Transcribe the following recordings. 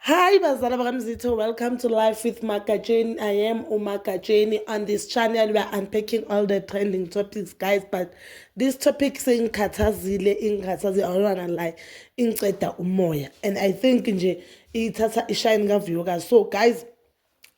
Hi bazala bakamzitho, welcome to Life with Magatsheni. I am uMagatsheni. On this channel we are unpacking all the trending topics guys but this topic sengikhathazile ingikhathaze awona la ingiceda umoya and I think nje ithatha ishine kavuyokazi so guys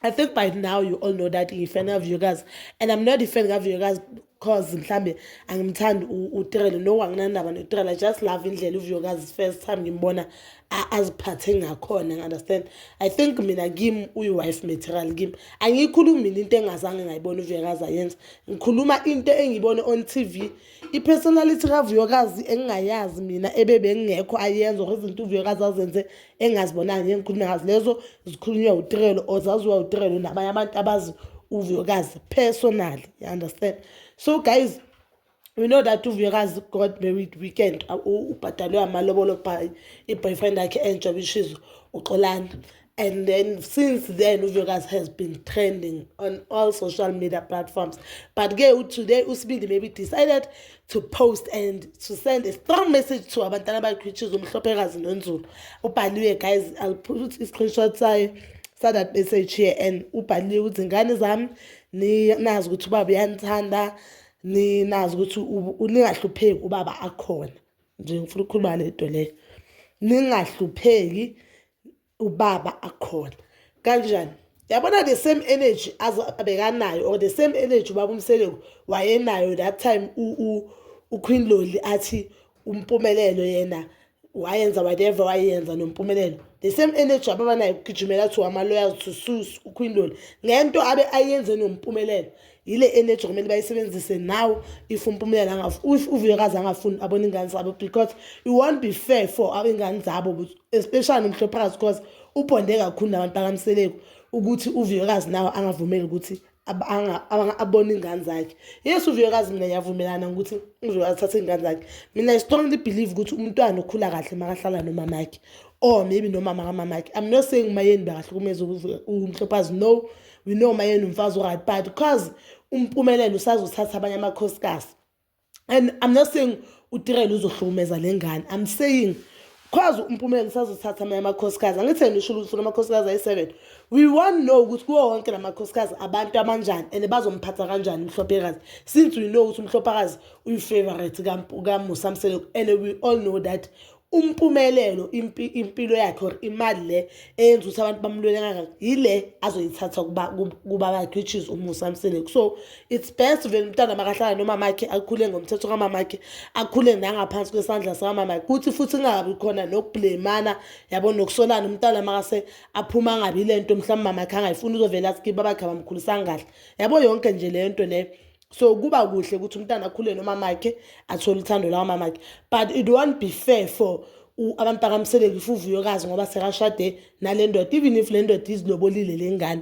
I think by now you all know that ngiyifan kaVuyokazi and I'm not a fan kaVuyokazi cause mhlambe angimthandi uTirelo no anginandaba noTirelo I just love indlela uVuyokazi first time ngimbona aziphathe ngakhona ngi-understand I think mina kim uyi-wife material kim angiyikhulumi mina into engazange ngayibona uVuyokazi ayenza ngikhuluma into engiyibone on TV i-personality kaVuyokazi engingayazi mina ebebengekho ayenza or izinto uVuyokazi azenze engazibonanga ngengikhuluma ngazo lezo zikhulunywa utirelo or zaziwa utirelo nabanye abantu abazi uvuyokazi personally you understand so guys we know that uvuyokazi got married weekend ubhadalwe amalobolo by i-boyfriend yakhe entsha which is uxolani and then since then uVegas has been trending on all social media platforms but ke today usibindi maybe decided to post and to send a strong message to abantwana bakhe which is umhlophekazi nonzulu ubhaliwe guys i'll put i-screenshot sayo sa that message here and ubhaliwe ukuthi ngane zami ninazi ukuthi ubaba uyanithanda ninazi ukuthi ningahlupheki ubaba akhona nje ngifuna ukukhuluma le nto leyo ningahlupheki ubaba akhona kanjani yabona the same energy abekanayo or the same energy ubaba umseleku wayenayo that time uqueen loli athi umpumelelo yena wayenza whatever wayenza nompumelelo the same energy ababanayo ukugijimela kuthiwa ama-lawyers to sus uqueen loli ngento abe ayenze nompumelelo yile energy kumele bayisebenzise now if umpumela if uvuyekazi angafuni abona ingane zabo because it won't be fair for abengane zabo especially nomhlophakazi because ubhonde kakhulu nabantu bakamseleko ukuthi uvuyekazi nawo angavumeli ukuthi abone ingane zakhe yes uvuyekazi mina ngiyavumelana ngokuthi uvuyekazi athathe ingane zakhe mina i strongly believe ukuthi umntwana okhula kahle makahlala nomamakhe or maybe nomama kamamakhe i'm not saying umayeni bakahlukumeza umhlophazi no we know uma yena umfazi uright but because umpumelelo usazothatha abanye amakhosikazi and i'm not saying utirele uzohlukumeza le ngane i'm saying because umpumelelo usazothatha amanye amakhosikazi angitheni usho ukuthi kunamakhosikazi ayi-seven we want know ukuthi kuwo wonke la makhosikazi abantu abanjani and bazomphatha kanjani umhlophekazi since we know ukuthi umhlophakazi uyi-favorite kamusamseleko and we all know that umpumelelo impilo yakhe or imali le eyenza ukuthi abantu bamlwele kangaka yile azoyithatha kuba bakhe which is umusa mseleko so it's best vele umntwana makahlala nomamakhe akhule ngomthetho kamamakhe akhule nangaphansi kwesandla sikamamakhe kuthi futhi kungabi khona nokubhlemana yabo nokusolana umntwana makase aphuma angabi le nto mhlawumbe mamakhe angayifuni uzovele athi kiba bakhe abamkhulisanga kahle yabo yonke nje le nto leyo so kuba kuhle ukuthi umntana akhule nomamakhe athole uthando lawamamakhe but it won't be fair for abantu bakamseleki fuvuyokazi ngoba sekashade nale ndoda even if le ndoda izilobolile le ngane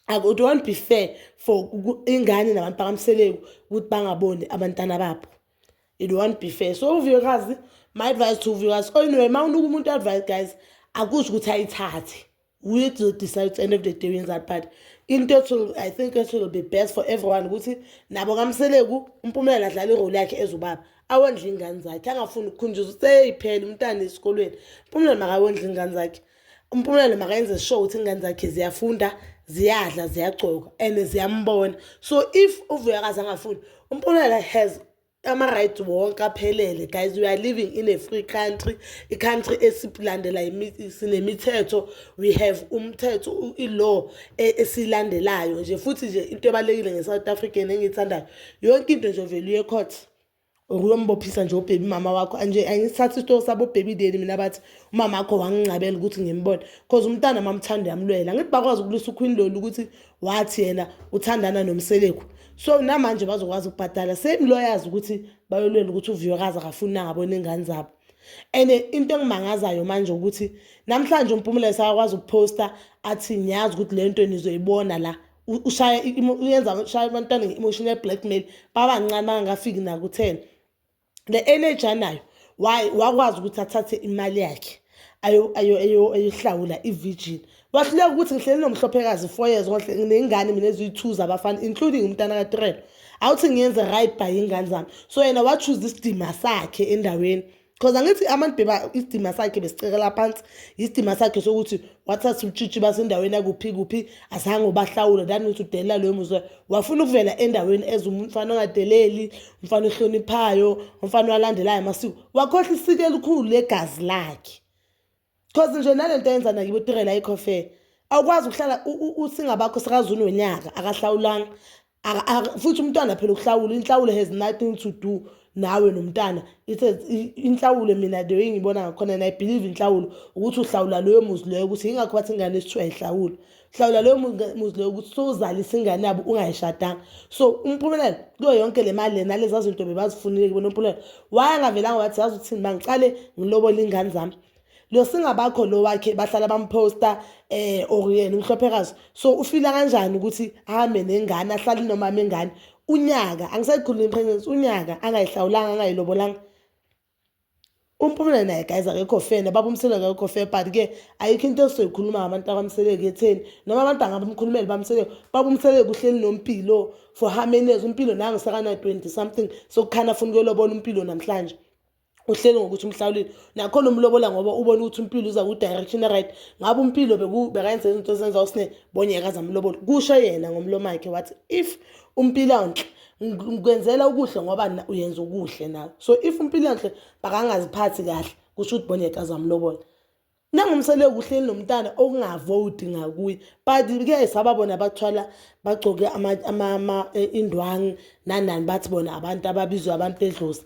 it won't be fair for ingane nabantu bakamseleki ukuthi bangaboni abantana babo it won't be fair so uvuyokazi my advice to uvuyokazi oyinwe oh, ma unuka umuntu advice guys akusho ukuthi ayithathe we to decide at the end of the day that but into ethi i think it will be best for everyone ukuthi nabo kamseleku umpumelelo adlala irole yakhe ezubaba awondla ingane zakhe angafuni ukukhunjuza seyiphela umntana esikolweni umpumelelo makawondla ingane zakhe umpumelelo makayenze sure ukuthi ingane zakhe ziyafunda ziyadla ziyagcoka and ziyambona so if uvuyakazi angafuni umpumelelo has ama-rights wonke aphelele guys we are living in a free country i-country esilandela sinemithetho we have umthetho i-law e, esiyilandelayo nje futhi nje into ebalulekile nge-south african engiyithandayo yonke into nje vele uye court or uyombophisa nje ubhebi mama wakho anje angisithatha isitoko sabobhebi deni mina bathi umama wakho wangingcabela ukuthi ngimbone cause umntana mamthanda yamlwela angithi bakwazi ukulisa ukhwini lolu ukuthi wathi yena uthandana nomseleku so namanje bazokwazi ukubhadala same lawyers ukuthi bayolwela ukuthi uviyokazi akafuni nangabona ingane zabo and into engimangazayo manje ukuthi namhlanje umpumela esakwazi ukuphosta athi ngiyazi ukuthi le nto nizoyibona la ushaya uyenza ushaya abantwana nge-emotional blackmail babancane bangakafiki naku-ten le energy anayo wakwazi ukuthi athathe imali yakhe ayohlawula i-virgin wahluleka ukuthi ngihleli nomhlophekazi four years konhle nginey'ngane mina eziyi-two zabafana including umntana katrelo awuthi ngiyenze right by iy'ngane zami so yena wachuza isidima sakhe endaweni because angithi abantu beba isidima sakhe besicekela phansi yisidima sakhe sokuthi wathatha utshitshi basendaweni yakuphi kuphi azange ubahlawule dani ukuthi udelela loyo muzwe wafuna ukuvela endaweni ezumfana ongadeleli umfana ohloniphayo umfana owalandelayo amasiko wakhohla isiko elikhulu legazi lakhe cause nje nale nto yenza nakibo tirela ikhofe awukwazi ukuhlala usingabakho sikazuni wonyaka akahlawulanga futhi umntwana phela ukuhlawula inhlawulo has nothing to do nawe nomntana ithe inhlawulo mina the way ngibona ngakhona and i believe inhlawulo ukuthi uhlawula loyo muzi loyo ukuthi yingakho bathi ingane esithiwa ihlawulo hlawula leyo muzi leyo ukuthi sowuzalisa ingane yabo ungayishadanga so umpumelelo kuyo yonke le mali lena leza zinto bebazifunile kubona umpumelelo wayangavelanga wathi yazi ukuthini bangiqale ngilobole ingane zami lo singabakho lo wakhe bahlala bamposta eh or yena umhlophekazi so ufila kanjani ukuthi ahambe nengane ahlale nomama engane unyaka angisayikhulumi pregnancy unyaka angayihlawulanga angayilobolanga UMpumela naye guys akekho fair nobaba uMseleko akekho fair but ke ayikho into esizoyikhuluma ngabantu abamseleko etheni noma abantu angabamkhulumeli bamseleko baba uMseleko uhleli noMpilo for how many years uMpilo nangu sakana 20 something sokukhana afuna ukuyolobona uMpilo namhlanje uhleli ngokuthi umhlawulile nakhona umlobola ngoba ubona ukuthi umpilo uza ku-direction right ngabe umpilo bekayenza izinto ezenza usine bonyeka zamlobola kusho yena ngomlomakhe wathi if uMpilanhle ngikwenzela ukuhle ngoba uyenza ukuhle nawe so if uMpilanhle bakangaziphathi kahle kusho ukuthi bona yekazamlobola nangumsele kuhleli nomntana okungavoti ngakuye but kuyayisaba bona bathwala bagcoke e, indwangu nanani bathi bona abantu ababizwe abantu bedlozi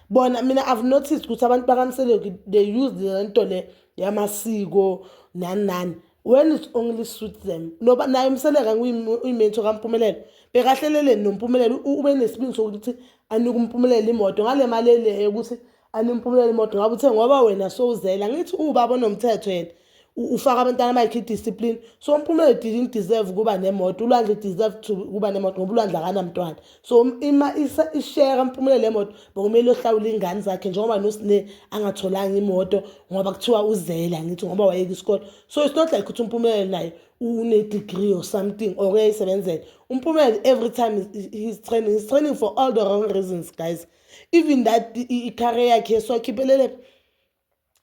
bona mina i've noticed ukuthi abantu bakamseleku they use le nto le yamasiko nani nani when it's only suit them noba naye umseleka uyimento kampumelelo bekahleleleni nompumelelo ube nesibindi sokuthi anike umpumelelo imoto ngale mali eleyo ukuthi animpumelelo imoto ngabe uthe ngoba wena sowuzela ngithi ubaba onomthetho yena ufaka abantwana bakhe idiscipline so umpumelelo didn't deserve ukuba nemoto ulwandle deserve to ukuba nemoto ngoba ulwandle akanamntwana so um, ima ishare kampumela le moto bekumele ohlawula ingane zakhe njengoba nosine angatholanga imoto ngoba kuthiwa uzele angithi ngoba wayeka isikole so it's not like ukuthi umpumela naye une-degree or something or uyayisebenzela umpumela every time he's training he's training for all the wrong reasons guys even that icareer yakhe so akhiphelele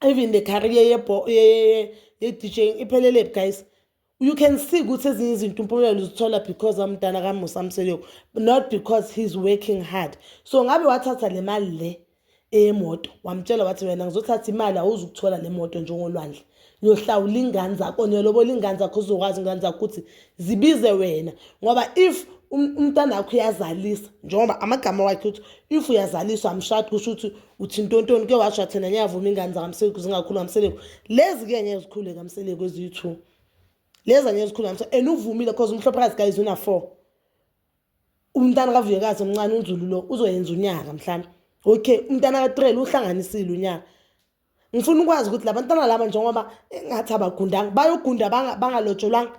even the career ye-djing iphelele phi guys you can see ukuthi ezinye izinto umpumelelo uzithola because amdala kamusa mseleko not because he's working hard so ngabe wathatha le mali le eyemoto wamtshela wathi wena ngizothatha imali awuzukuthola le moto njengolwandle uyohlawula ingane zakho niyolobola ingane zakho uzokwazi ingane zakho ukuthi zibize wena ngoba if um, umntana wakho uyazalisa njengoba amagama wakhe ukuthi if uyazaliswa amshadi kusho ukuthi uthintontoni ke washo athena ngiyavuma ingane zakamseleku zingakhulu kamseleku lezi-ke ngeke zikhule kamseleku eziyi-two lezi angeke zikhule kamseleku and uvumile cause umhlophakazi guys una-four umntana kavuyekazi omncane unzulu lo uzoyenza unyaka mhlawumbe okay umntana katrel uhlanganisile unyaka ngifuna ukwazi ukuthi labantwana laba njengoba engathi abagundanga bayogunda bangalotsholwanga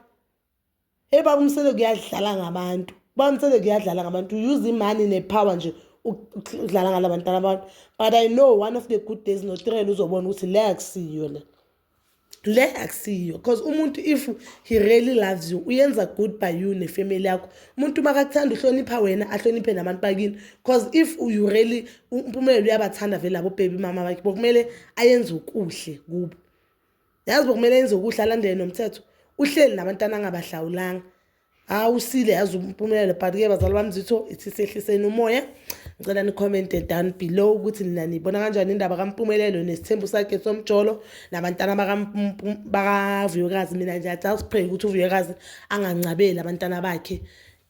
hey baba umsele kuyadlala ngabantu baba umsele kuyadlala ngabantu use imani nepower nje ukudlala ngala bantwana abantu but i know one of the good days notirela uzobona ukuthi le akusiyo le le akusiyo because umuntu if he really loves you uyenza good by you nefamily yakho umuntu uma kakuthanda uhlonipha wena ahloniphe nabantu bakini because if you really umpumelelo uyabathanda vele labo bhebi mama bakhe bokumele ayenze ukuhle kubo yazi bokumele ayenze ukuhle alandele nomthetho uhleli nabantwana angabahlawulanga hayi usile yazi umpumelelo but-ke bazali bami zitho ithi sehliseni umoya ngicela nikhomente down below ukuthi nina nibona kanjani indaba kampumelelo nesithembu sakhe somjolo nabantana bakavuyokazi mina nje just pray ukuthi uvuyokazi angancabeli abantana bakhe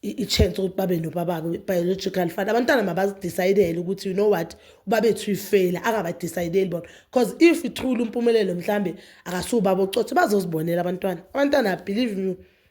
i-chance ukuthi babe nobababo biological fund abantwana mabazidicayidele ukuthi you know what ubabethu uyifeyila angabadicayideli bona because if ithule umpumelelo mhlawumbe akasuwubaba ocothe bazozibonela abantwana abantwana believe me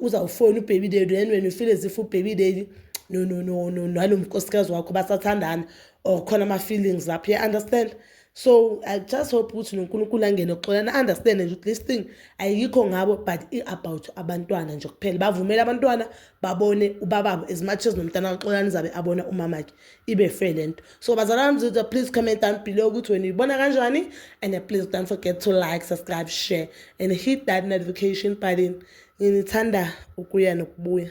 uzawufona ubhebi daddy and wena ufile zifa ubhebi daddy no no no no nalo mkosikazi wakho basathandana or khona ama-feelings lapho you understand so i just hope ukuthi nonkulunkulu angene oxolana understand nje ukuthi this thing ayikho ngabo but i-about abantwana nje kuphela bavumele abantwana babone ubababo as much as nomntana kaxolani zabe abona umamakhe ibe fair le nto so bazalwane bami zitha please comment down below ukuthi wena uyibona kanjani and please don't forget to like subscribe share and hit that notification button nginithanda ukuya nokubuya